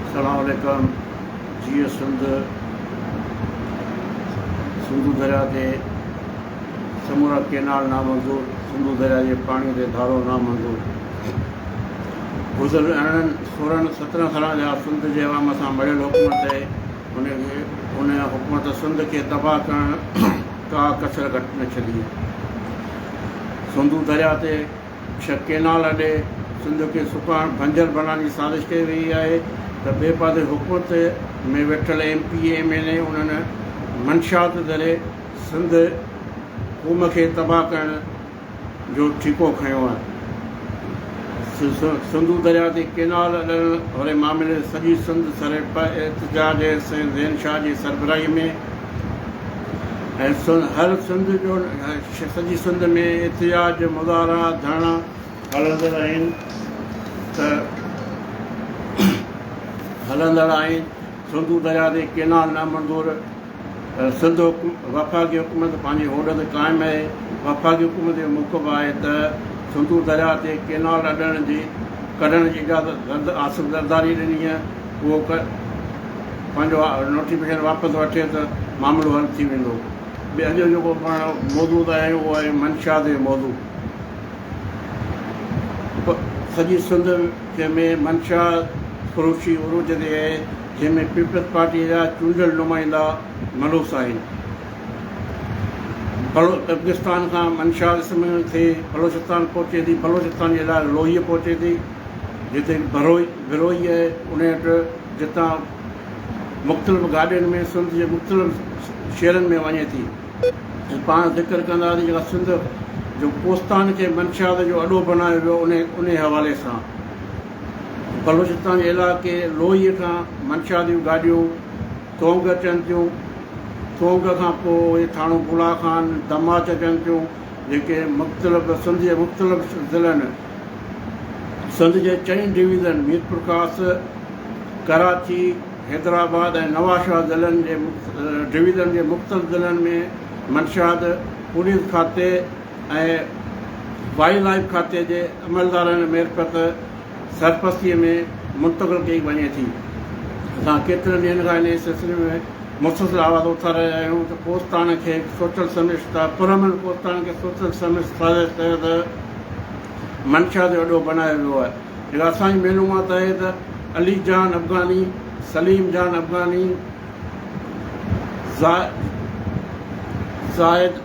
السلام عليڪم جيئي سنڌ سنڌو دريا تي سمورا ڪينال نامنظور سنڌو دريا جي پاڻي تي ڌارو نامنظور گذريل ارڙهن سورهن سترهن سالن جا سنڌ جي عوام سان مڙيل حڪومت ان کي ان حڪومت سنڌ کي تباهه ڪرڻ ڪا ڪسر گهٽ نه ڇڏي. سنڌو درياء تي ڇهه ڪينال اڏي سنڌ کي سڪائڻ، بنجر بڻائڻ جي سازش ڪئي ويئي آهي ته ٻئي پاسي حڪومت ۾ ويٺل M P A, M N A انهن منشيات ذريعي سنڌ قوم کي تباهه ڪرڻ، جو ٺيڪو کنيو آهي. سنڌو درياء تي ڪئنال اڏڻ واري معاملي سڄي سنڌ سري پ احتجاج ۽ سائين زين شاهه جي سربراهي ۾ ۽ هر سنڌ جو سڄي سنڌ ۾ احتجاج مظاهرا ڌرڻا هلندڙ آهن ته هلندڙ آهن سنڌو درياء تي ڪئنال نامنظور سنڌ وفاقي حڪومت پنهنجي هوڏ تي قائم آهي، وفاقي حڪومت جو موقف آهي ته سنڌو درياهه تي ڪينال اڏڻ جي ڪڍڻ جي اجازت زرد آصف زرداري ڏني هئي، اهو پنهنجو نوٽيفڪيشن واپس وٺي ته معاملو حل ٿي ويندو. ٻي اڄ جو جيڪو پاڻ موضوع تي آيا آهيون اهو آهي منشا تي موضوع. سڄي سنڌ ۾ منشا فروشي عروج تي آهي، جنهن ۾ پيپلز پارٽيء جا چونڊيل نمائندا ملوث آهن. بلو ترڪستان کان منشا اسم ٿي بلوچستان پهچي ٿي. بلوچستان جي لاء لوهيه پهچي ٿي، جتي بروهي بروهي آهي انهي وٽ جتان مختلف گاڏين ۾ سنڌ جي مختلف شهرن ۾ وڃي ٿي ۽ پاڻ ذڪر ڪنداسين جيڪا سنڌ جو ڪوستان کي منشا جو اڏو بنايو ويو انهي انهي حوالي سان. بلوچستان جي علائقي لوئيء کان منشا جون گاڏيون ڪونگ اچن ٿيون. ڪونگ کان پوء اهي ٿاڻو بولا خان، دماچ اچن ٿيون، جيڪي مختلف سنڌ جي مختلف ضلعن، سنڌ جي چئن ڊويزن ميرپورخاص، ڪراچي، حيدرآباد ۽ نوابشاهه ضلعن جي ڊويزن جي مختلف ضلعن ۾ منشاد پوليس کاتي ۽ وائلڊ لائيف کاتي جي عملدارن معرفت سرپرستيء ۾ منتقل ڪئي وڃي ٿي. اسان ڪيترن ڏينهن کان انهيء سلسلي ۾ مسلسل آواز اٿاري رهيا آهيون ته ڪوستاڻ کي سوشل سمرس ٿا پرامن ڪوستاڻ کي سوشل سمرس سازش تحت منشا جو اڏو بنايو ويو آهي جيڪا اسان جي معلومات آهي ته علي جان افغاني، سليم جان افغاني، زاهد.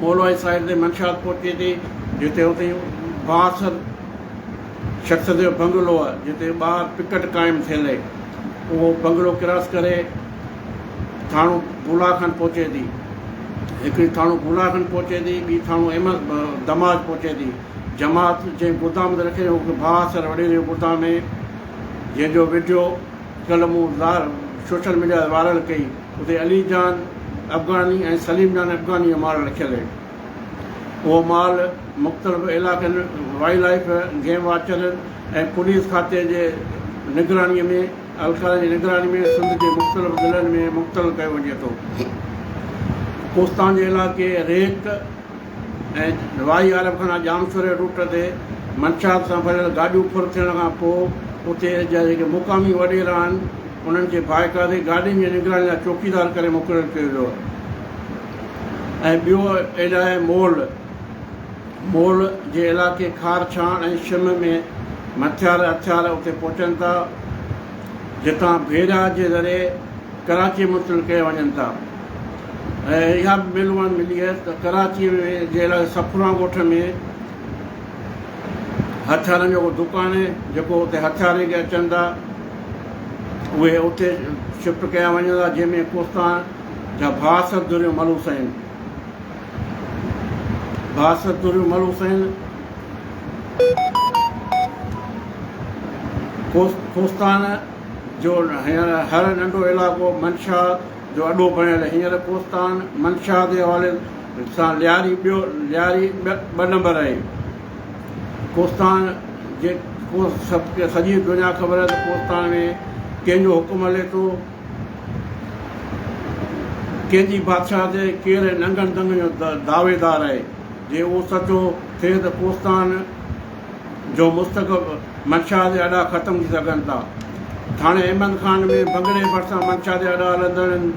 مولوي صاحب جي منشات پهچي ٿي جتي اتي بااثر شخص جو بنگلو آهي جتي ٻاهر پڪٽ قائم ٿيل آهي اهو بنگلو ڪراس ڪري ٿاڻو بولا کن پهچي ٿي هڪڙي ٿاڻو بولا کن پهچي ٿي ٻي ٿاڻو احمد دماج پهچي ٿي جماعت جنهن گردام تي رکي اهو بااثر وڏيري گردام جنهن جو ويڊيو ڪلهه مون سوشل ميڊيا تي وائرل ڪئي اتي علي جان افغاني ۽ سليم جان افغاني جو مال رکيل هي. اهو مال مختلف علائقن، وائلڊ لائيف، گيم واچرن ۽ پوليس کاتي جي نگراني ۾ اهلڪارن جي نگراني ۾ سنڌ جي مختلف ضلعن ۾ منتقل ڪيو وڃي ٿو. ڪوستان جي علائقي ريت، ۽ واهي عارب خانه ڄامشوري روٽ تي منشيات سان ڀريل گاڏيون ڦر ٿيڻ کان پوء اتي جا جيڪي مقامي وڏيرا آهن انهن کي باقاعدي گاڏين جي نگراني لاء چوڪيدار ڪري مقرر ڪيو ويو ۽ ٻيو ايلائي مول مول جي علائقي کار ڇاڻ ۽ شم ۾ مٿيار هٿيار اتي پهچن ٿا جتان بحيراه جي ذريعي ڪراچي منتقل ڪيا وڃن ٿا. ۽ اها به معلومات ملي آهي ته ڪراچي ۾ جي علائقي سکونا ڳوٺ ۾ هٿيارن جو ڪو دڪان آهي جيڪو اتي هٿيار ليڪي اچن ٿا اهي اتي شفٽ ڪيا وڃن ٿا جنهن ۾ ڪوستان جا بااثر ڌريون ملوث آهن بااثر ڌريون ملوث آهن ڪوستان جو هر ننڍو علائقو منشا جو اڏو بڻيل هينئر ڪوستان منشا جي حوالي سان لياري ٻيو لياري ٻه نمبر آهي. ڪوستان جي سڄي دنيا خبر آهي ته ڪوستان ۾ ڪنهن جو حڪم هلي ٿو، ڪنهن جي بادشاهت تي ڪير ننگن دنگن جو دعويدار آهي. جي اهو سچو ٿئي ته ڪوستان جو مستقب منشا جي اڏا ختم ٿي سگهن ٿا. ٿاڻي احمد خان ۾ بنگلي ڀرسان منشا جي اڏا هلندڙن،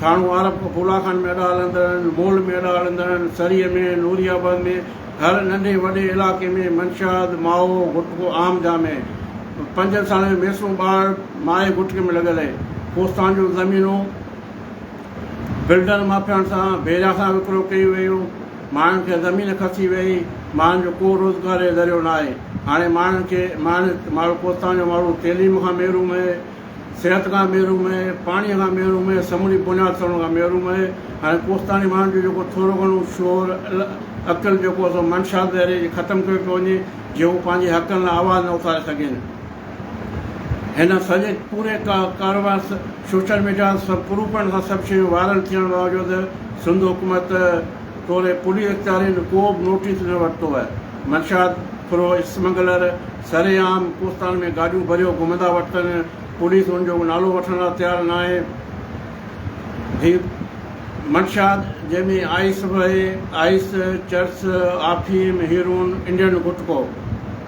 ٿاڻو عارف ڦولا خان ۾ اڏا هلندڙن، مول ۾ اڏا هلندڙن، سريء ۾، نوري آباد ۾ هر ننڍي وڏي علائقي ۾ منشا، مائو، غٽڪو عام جام هي. پنجن سالن جو ميسون ٻار مائي غٽڪي ۾ لڳل هي. ڪوستان جون زمينون بلڊر مافيائن سان، بيريا سان وڪرو ڪيون ويون. ماڻهن کي زمين کسي ويئي، ماڻهن جو ڪو روزگار ۽ ذريعو نه آهي، هاڻي ماڻهن کي ماڻهن ماڻهو ڪوستان جو ماڻهو تعليم کان محروم اهي، صحت کان محروم اهي، پاڻي کان محروم اهي، سموري بنياد سڙڻ کان محروم اهي، هاڻي ڪوستاني ماڻهن جو جيڪو ٿورو گهڻو شعور عقل جيڪو سو منشا ذريعي ختم ڪيو پيو وڃي جيئن هو پنهنجي حقن لاء آواز نه اٿاري سگهين. هن سڄي پوري ڪاروبار سوشل ميڊيا سب پروفن سان سڀ شيون وائرل ٿيڻ باوجود سنڌ حڪومت توري پوليس اختيارين ڪوبه نوٽيس نه ورتو آهي منشيات فروع اسمگلر سري عام ڪوستان ۾ گاڏيون ڀريو گهمندا ورتن پوليس ان جو نالو وٺڻ لا تيار ناهي هي منشيات جنهن ۾ آئيس وهي آئيس چرس آفيم هيرون انڊين گٽڪو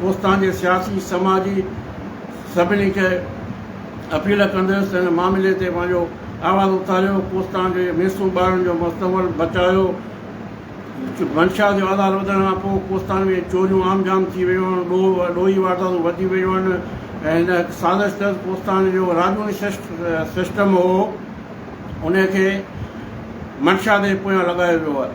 ڪوستان جي سياسي، سماجي سڀني کي اپيل ڪنديس ته هن معاملي تي پنهنجو آواز اٿاريو، ڪوستان جي ميسون ٻارن جو مستقبل بچايو، منشا جو آڌار وڌڻ کان پوء ڪوستان ۾ چوريون عام جام ٿي ويون آهن، ڏوهه ڏوهي وارداتون وڌي ويون آهن ۽ هن هڪ سازش تحت ڪوستان جو راڄوڻي سسٽم هو انهي کي منشا تي پويان لڳايو ويو آهي.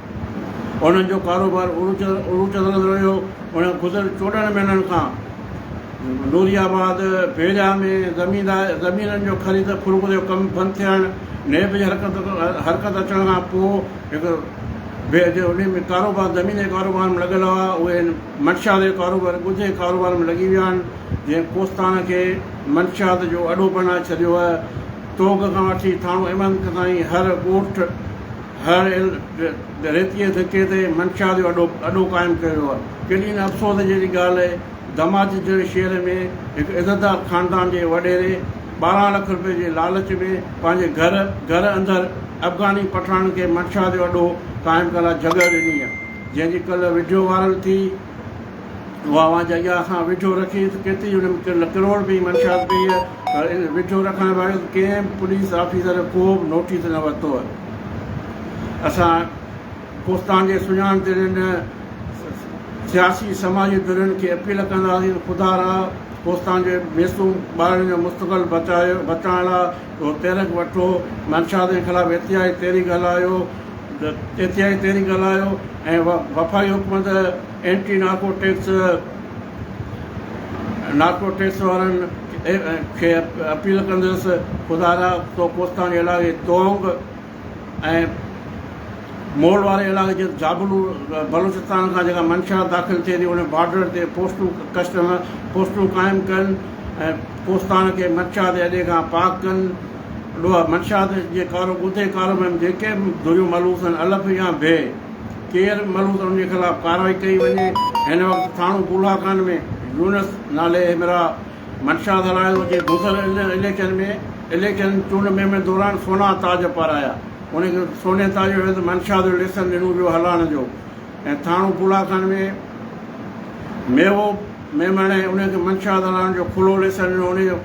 انهن جو ڪاروبار عروج عروج تي هلندو رهيو. انهن گذريل چوڏهن مهينن کان نوري آباد، ڀيريا، ۾ زميندار زمينن جو خريد فروخت جو ڪم بند ٿيڻ، نيب جي حرڪت حرڪت اچڻ کان پوء هڪ ڀير جو انهن ۾ ڪاروبار زمين جي ڪاروبار ۾ لڳل هئا، اهي هن منشيات جي ڪاروبار ڳجهه جي ڪاروبار ۾ لڳي ويا آهن، جنهن ڪوستاڻ کي منشيات جو اڏو بڻائي ڇڏيو آهي. توغ کان وٺي ٿاڻو احمد تائين هر ڳوٺ هر هل ۽ ريتيء ڌڪي تي منشا جو اڏو اڏو قائم ڪيو ويو آهي. ڪيڏي نه افسوس جهڙي ڳالهه آهي، دماجي جهڙي شهر ۾ هڪ عزتدار خاندان جي وڏيري ٻارهن لک روپين جي لالچ ۾ پنهنجي گهر گهر اندر افغاني پٺاڻن کي منشا جو اڏو قائم ڪرڻ لاء جڳهه ڏني آهي، جنهن جي ڪلهه وڊيو وائرل ٿي. اها آواز اڳيان کان ويجهو رکي ته ڪيتري ان ۾ ڪروڙ رپئي جي منشيات پئي هئي پر ان ويجهو رکڻ باوجود ڪنهن به پوليس آفيسر ڪو به نوٽيس نه ورتو هئي اسان ڪوستان جي سڃاڻ تي رهندڙ سياسي سماجي ڌرين کي اپيل ڪنداسين ته خدا را ڪوستان جي معصوم ٻارڙن جو مستقبل بچائڻ لاء اهو تحرڪ وٺو منشياتن خلاف احتجاجي تحريڪ هلايو تيتيائي تحريڪ هلايو ۽ وفاقي حڪومت anti narcotics narcotics وارن کي اپيل ڪندس خدارا تو ڪوستاني علائقي تونگ ۽ مول واري علائقي جيت جابلو بلوچستان کان جيڪا منشا داخل ٿئي ٿي ان بارڊر تي پوسٽون ڪسٽم پوسٽون قائم ڪن ۽ ڪوستان کي منشا تي اڏي کان پاڪ ڪن ڏوهه، منشيات جي ڪارو ڳوتي ڪارو ۾ جيڪي به ڌريون ملوث آهن الف يا بي ڪير ملوث انهن جي خلاف ڪارروائي ڪئي وڃي هن وقت ٿاڻو ڪولا خان ۾ يونس نالي همراهه منشيات هلائي ٿو جنهن گذريل اليڪشن ۾ اليڪشن چونڊ مهم دوران سونا تاج پارايا انهن کي سوني تاج جو عيوض منشيات جو ليسن ڏنو ويو هلائڻ جو ۽ ٿاڻو ڪولا خان ۾ ميوو ميمڻ انهن کي منشيات هلائڻ جو کلو ليسن ڏنو انهن جو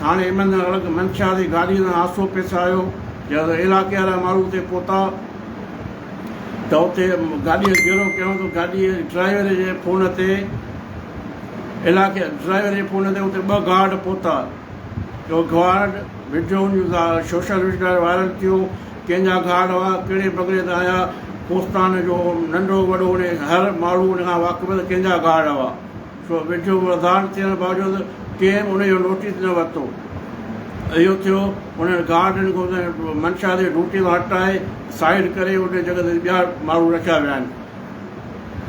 ٿاڻي ايمن اڙڳ منشا جي گاڏيء سان حادثو پيش آيو، جڏهن علائقي وارا ماڻهو اتي پهتا ته اتي گاڏيء کي گهيرو ڪيائون ته گاڏيء جي ڊرائيور جي فون تي علائقي ڊرائيور جي فون تي اتي ٻه گارڊ پهتا جو گارڊ وڊيو ان جو سوشل ميڊيا تي وائرل ٿيو، ڪنهن جا گارڊ هئا، ڪهڙي بگڙي تان آيا، ڪوستان جو ننڍو وڏو هر ماڻهو ان کان واقف هو ته ڪنهن جا گارڊ هئا. سو ويجهو وڌان ٿيڻ باوجود ڪنهن به انهيء جو نوٽيس نه ورتو. اهو ٿيو، انهن گارڊ ان کي منشا جي ڊيوٽي مان هٽائي سائيڊ ڪري انهيء جڳهه تي ٻيا ماڻهو رکيا ويا آهن.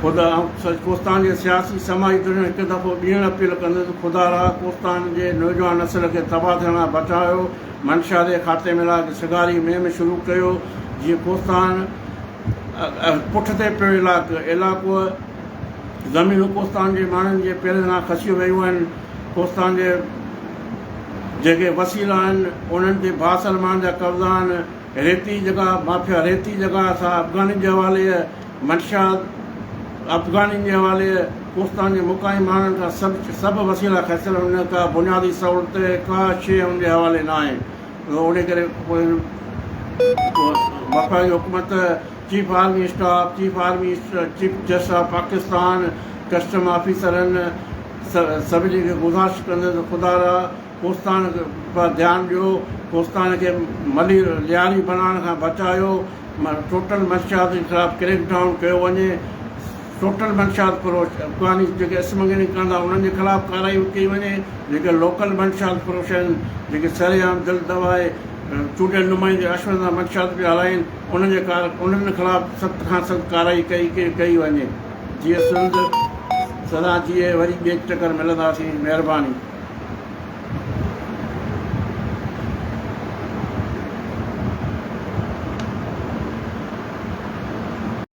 خدا ۽ ڪوستان جي سياسي سماجي ڌرين هڪ دفعو ٻيهر اپيل ڪنديون ته خدا را ڪوستان جي نوجوان نسل کي تباهه ٿيڻ کان بچايو، منشا جي خاتي ۾ لاء سگهاري مهم شروع ڪيو جيئن ڪوستان پٺتي پيو علائقو زمينون ڪوستان جي ماڻهن جي پيرن کان کسيون ويون آهن. ڪوستان جي جيڪي وسيلا آهن، انهن تي ڀاء سلمان جا قبضا آهن. ريتي جڳهه مافيا ريتي جڳهه سا افغانين جي حوالي آهي. منشا افغانين جي حوالي آهي. ڪوستان جي مقامي ماڻهن کان سڀ سڀ وسيلا کسيل آهن. انهن ڪا بنيادي سهولت ڪا شيء انهن جي حوالي نه آهي. انهيء ڪري پوء وفاقي حڪومت chief army staff, chief army chief justice of Pakistan, custom آفيسرن سڀني کي گذارش ڪندس ته خدارا ڪوستاڻ پاران ڌيان ڏيو، ڪوستاڻ کي ملي لياري بڻائڻ کان بچايو، ٽوٽل منشيات جي خلاف ڪريڪ ڊائون ڪيو وڃي، ٽوٽل منشيات فروش افغاني جيڪي اسمگلنگ ڪن ٿا انهن جي خلاف ڪارروائي ڪئي وڃي، جيڪي لوڪل منشيات فروش آهن جيڪي سرعام دل دٻائي چونڊيل نمائندي رشوت سان منشيات پيا هلائين. انهن جي ڪار ڪنڊن خلاف سخت کان سخت ڪارروائي ڪئي ڪئي وڃي جيئن سنڌ سدا جيئي وري ٻي ٽڪر ملنداسين مهرباني.